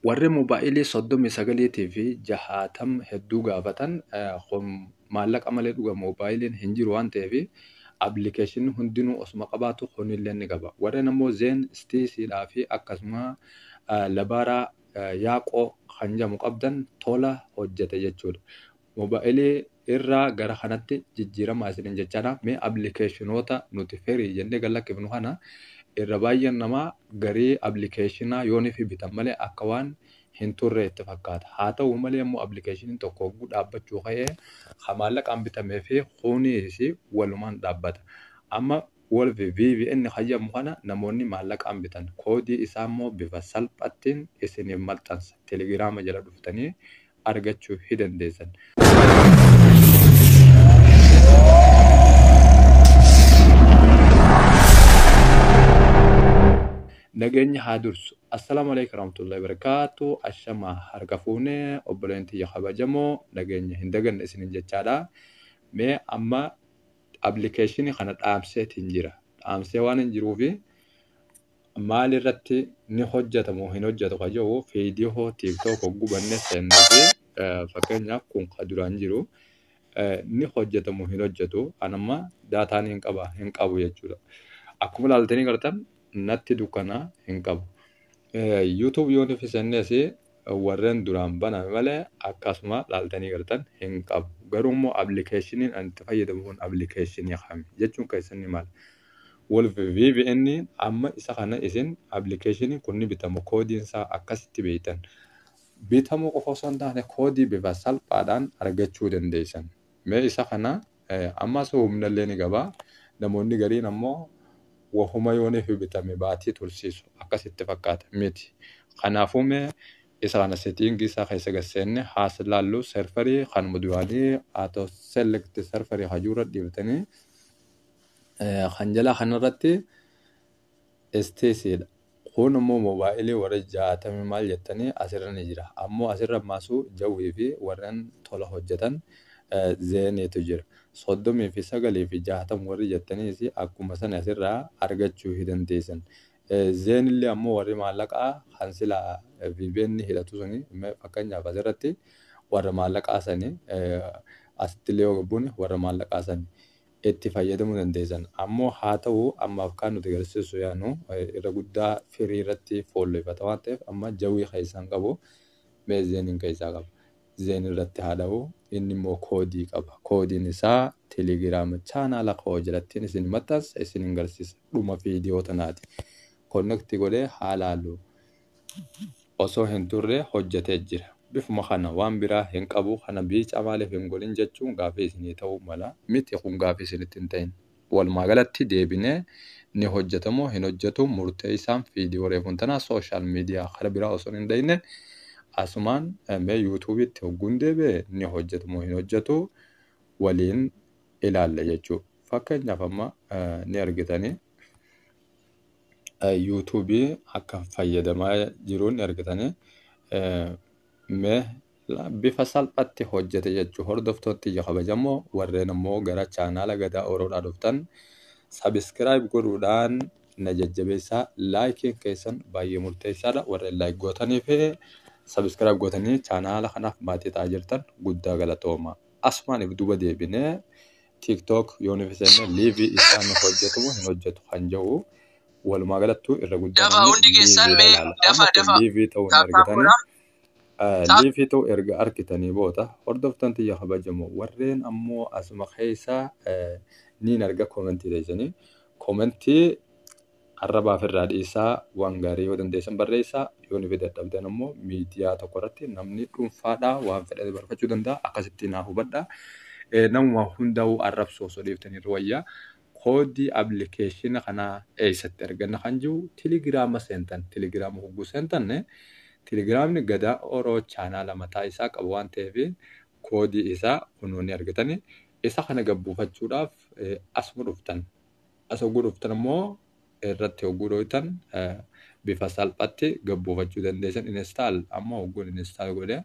Warri mobaayilii 39 tii fi 60 hedduu gaafatan kun maallaqa malee dhuga mobaayiliin hin jiru waan ta'eef appilikeeshinni hundinuu osuma qabaatu kunillee ni qaba. Warreen ammoo Zeen, Stiisiidhaa fi akkasuma Labaaraa Yaaqoo kan jedhamu qabdan tola hojjete jechuudha. Mobile irraa gara kanatti jijjiiramaa isinin jechana mee applicationota nuti free jenne gad lakkifnu kana irra baay'een namaa garii applicationaa yoo nifi bitan malee akka waan hin turree itti fakkaata haa ta'u malee immoo applicationin tokko hogguu dhaabbachuu ka'ee ha maallaqaan bitamee fi kuuniis walumaan dhaabbata amma wolf vpn hayyamu kana namoonni maallaqaan bitan koodii isaa immoo bifa salphattiin isiniif maxxansa telegiraama jala dhuftanii argachu hi dandeessan. Nageenyi haa dursu. Assalaamu Aleykum Warahmatullahi Wabarakatuh. Ashama harka fuune obboleen tiyya kabajamoo nageenya hin daganne isinin jechaadha. Mee amma application kana dhaamseetiin jira. Dhaamsee waan hin jiruufi maal irratti ni hojjeta moo hin hojjetu ka jedhu viidiyoo tiiktook hogguu bannee seennuu fi fakkeenyaaf kun ka duraan jiru ni hojjeta moo hin hojjetu an amma daataa ni qaba hin qabu jechuudha. Akkuma ilaaltanii gartan natti dukkana hin qabu. YouTube yoo nufi sennees warren duraan baname malee akkasuma laaltanii gartan hin qabu. Garuu immoo application an itti fayyadamu kun application kami jechuun keessan ni mala. Wolf VPN amma isa kana isin application kun ni bitama koodiin isaa akkasitti beektan. Bitamuu qofa osoo hin taane koodii bifa salphaadhaan argachuu dandeessan. Mee isa kana Ammas humnallee ni qaba. Namoonni gariin ammoo wahuma yooniif bitame baatii tursiisu akkas itti fakkaata. Miti. Kanaafuu mee isa kana setting isaa keessa gad seenne haas laallu server kanuma duraanii auto select server kan jiru irra dhiiftanii kan jalaa kanarratti STC dha. Kuun immoo mobile warri jaatami maal jettani asirra ni jira. Ammoo asirra ammasu jawwii fi warren tola hojjatan zeeni tu jira. 39 fi 60 warri jettaniis akkuma sani asirra argachu hi dandeessan. Zeen illee ammoo warri maallaqa kan sila vpn hidhatu suni me fakkeenyaaf asirratti warra maallaqaa sani asitti illee yoo gabbuune warra maallaqaa sani. itti fayyadamuu dandeessan ammoo haa ta'u ammaaf kaan nuti garsiisuu yaadnu irra guddaa firii irratti foolloyfata waan ta'eef amma jawwii keessaa hin qabu mee zeeniin keessaa qaba zeen irratti haa dha'u inni immoo koodii qaba koodiin isaa telegiraama chaanaala koo jirattiin isin maxxansa isin hin garsiisa dhuma viidiyoo tanaati konnekti godhee haa laalu osoo hin turre hojjatee jira. Bifuma kana waan biraa hin qabu kana biica maaliif hin godhin jechuun gaaffii isinii ta'uu mala. Miti kun gaaffii isinitti hin ta'in. Walumaa galatti deebinee ni hojjata moo hin hojjatu murteessaan viidiyoo reefuun tana social media kara biraa osoo hin dhayne asumaan mee yuutuubiitti hogguun deebi'e ni hojjatu moo hin hojjatu waliin ilaalla jechuu. Fakkeenyaaf amma ni argitanii. YouTube akka fayyadamaa jiruun argitanii mee bifa salphatti hojjete jechuu hordoftoottii kabajamoo warreen ammoo gara chaanaala gadaa oroodhaa dhuftan sabiskiraayib godhuudhaan na jajjabeessaa laayikiin keessan baay'ee murteessaadha warreen laayik gootanii fi sabiskiraayib gootanii chaanaala kanaaf maatii ta'aa jirtan guddaa galatooma asumaan if duba deebinee tiktok yoo nuuf seenne liivi isaan nuuf hojjetu hin hojjetu kan jedhu walumaa galattuu irra guddaa Dafa namni hundi keessan liiviidha mee ilaala. dafa Amma kun dafa liivii ta'uu hin taaptaan argitanii godha. Eh, Taap liivii ta'uu erga argitanii booda hordoftan tiyya kabajamoo warreen ammoo asuma keessa eh, niin arga koomentii teessanii koomentii Arraba ofirraa dhiisaa, waan gaarii yoo dandeessan barreessaa, yoo nufi dadhabdan ammoo miidiyaa tokko irratti namni dhuunfaadhaa waan fedhate barfachuu danda'a. Akkasitti naa hubadhaa. Eh, Namuma hundaa'uu arrabsuu osoo dhiiftanii irra wayya. Koodii appilikeeshina kanaa eessatti arganna kan jiru Telegiraama seentan. Telegiraama hogguu seentan Telegiraamni Gadaa Oroo chaanaala mataa isaa qaba waan ta'eef koodii isaa kunoo ni argitani. Isa kana gad buufachuudhaaf eh, asuma dhuftan. As hogguu dhuftan immoo irratti hogguu dhooytan bifa salphatti gabbuufachuu dandeessan install amma hogguun install godhe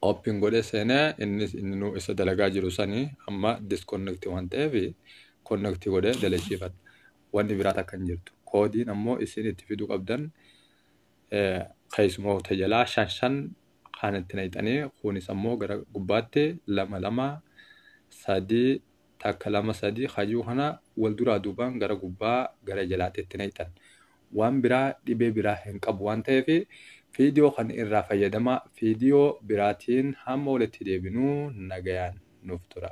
open godhe seene innis inni nu isa dalagaa jiru sani amma disconnect waan ta'eef connect godhe dalachiifadha wanni biraa takka hin jirtu koodiin ammoo isin itti fiduu qabdan keessumoota jalaa shan shan kaan itti naqxanii kunis ammoo gara gubbaatti lama lama sadii takka lama sadii hajuu kana wal duraa duubaan gara gubbaa gara jalaatti itti naqxan waan biraa dhibee biraa hin qabu waan ta'eef fiidiyoo kan irraa fayyadamaa fiidiyoo biraatiin hamma walitti deebinuu nagayaan nuuf tura.